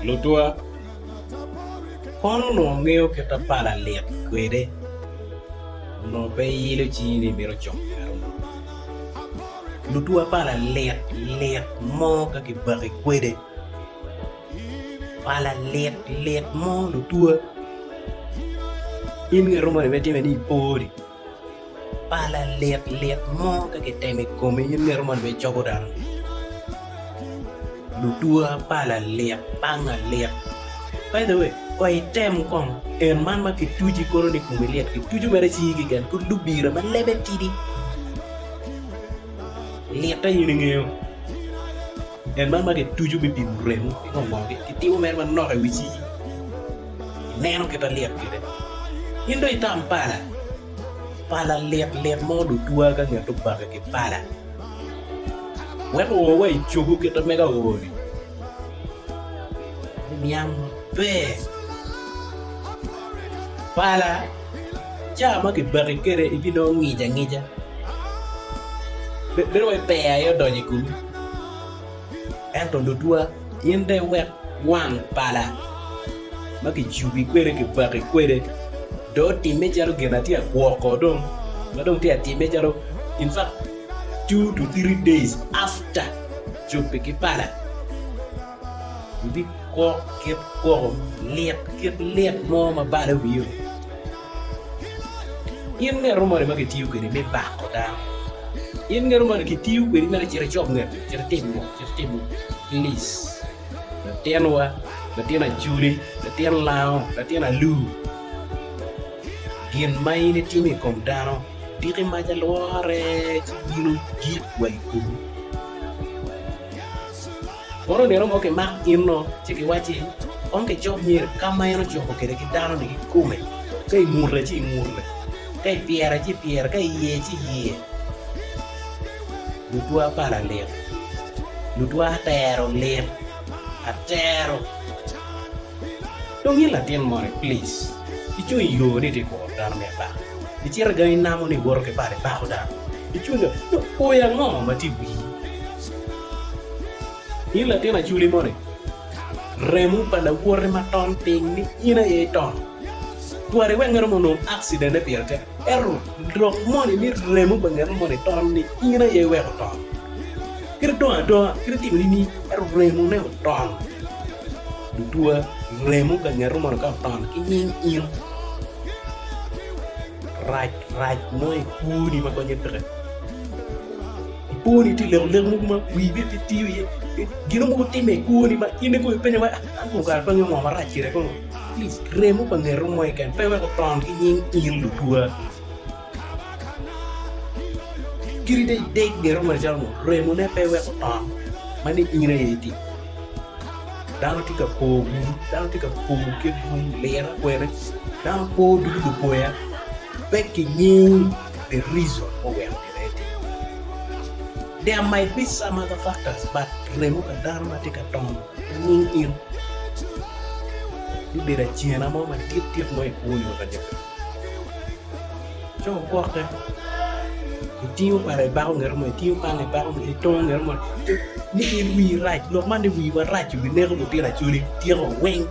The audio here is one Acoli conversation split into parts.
Lutwa, Kono onongo ngeyo kit ma pala lit kwede, onongo pe iyilo cingi ni imito cok kare munu. Lutwa pala lit lit mo ka kibaki kwede, pala lit lit mo lutwa. In girom moni ma itime ni ipori. Pala lit lit mo ka kitemo i komi in mito mono obed cogo dano. Lutuwa pala lit banga lit by the way wek item kong en man ma kituco ikono ni komi lit kituco mere cingi keken pud lubira ma lebe tidi lite in ingeyo. En man ma kituco me pimo remo ki gongogi, kitimo mere manok i wi cigi, ineno kit alyet kede. In dong itam pala, pala lit lit mo dong twa ka nget obake ki pala, wek oo wa i cogo kit ma mega ooni, me niang maber. Pala, caa ma kibaki kede ibinongo ngic angica, bedo wai peya aye odonyo i komi. Ento lutwa, in de wek wang pala ma kijubi kwede, kibaki kwede, do otimme calo gin atye ka gwoko dong, ma dong tye ka timme calo in fact two to three days after jubi ki pala, ibigwok kit gwoko lit, kit lit mo ma balo wiyo. In nge arumoni ma kitiyo kwedi me bako dano? In nge arumoni kitiyo kwedi mere cit icop nge piny cit itim ngo? Cit itim ngo? Plic, latinwa, latin Acoli, latin Lango, latin Alur, gin ma in itimo i kom dano, tiki maca lwore ci bino gik wa i komi. Kono nino mo kimak inno, ci giwacci, Kong kicok myero ka ma en ocoko kwede ki dano-ni kikome, ka ingute ci ingute, ka ipyere ci ipyere, ka iye ci iye. Lutwa pala lit, lutwa atero lit, atero. Dong in latin moni, plic, icung i yo ni itye ka kuro dano me abaka, icito gangi inamo ni iwoto ki pala ibako dano, icung dong, dong oya ango ma tye i wii? In latin aculi moni, remo pa lawoti ma tol piny ni in aye itono. Twari wek ngeto moni onong akcidente pire tek, ento lok moni ni remo pa ngeto moni tol ni in aye iweko otono. Kadi dong adonga kadi timo nining, ento remo ne otono. Lutwa, remo pa ngeto moni ka otono ki nying in. rac rac mo i kwoni ma konye peke, i kwoni tye leko leko mogo ma wii bene pe tiyo iye, gino mogo timme i kwoni ma in ikong ipenyo wai an kong kara adonyo ngo marac kire kono, please remo pa ngeto mo keken pe wek oton ki nying in lutwa, kadi dong ideg ngeto mo macalo ngo remo ne pe wek oton ma ni in aye itic. Dano tye ka por bulu, dano tye ka por kit lung liro kwede, dano por ducu lupoya pe ki ngeyo the reason ma oweko gire aye timo meno. There might be some other factors but remo pa dano ma tye ka tom inyim in bibedo acena mo madit dit mo ikwo nyo kanyaka. Ci wugwokke, itingo pala ibako ngete mo, itingo pala ibako ngete mo, itongo ngete mo, nino in wii rac, lok man ni wiwa rac bineko lutino acholi tyeka weng,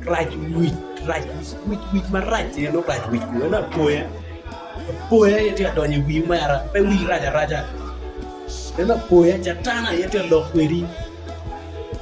rac wic rac wic wic marac aye nongo rac wic kong ento apoya apoya aye tye ka donyo i wiwu mera pe wii rac araca ento apoya catan aye tye ka lok kwedi.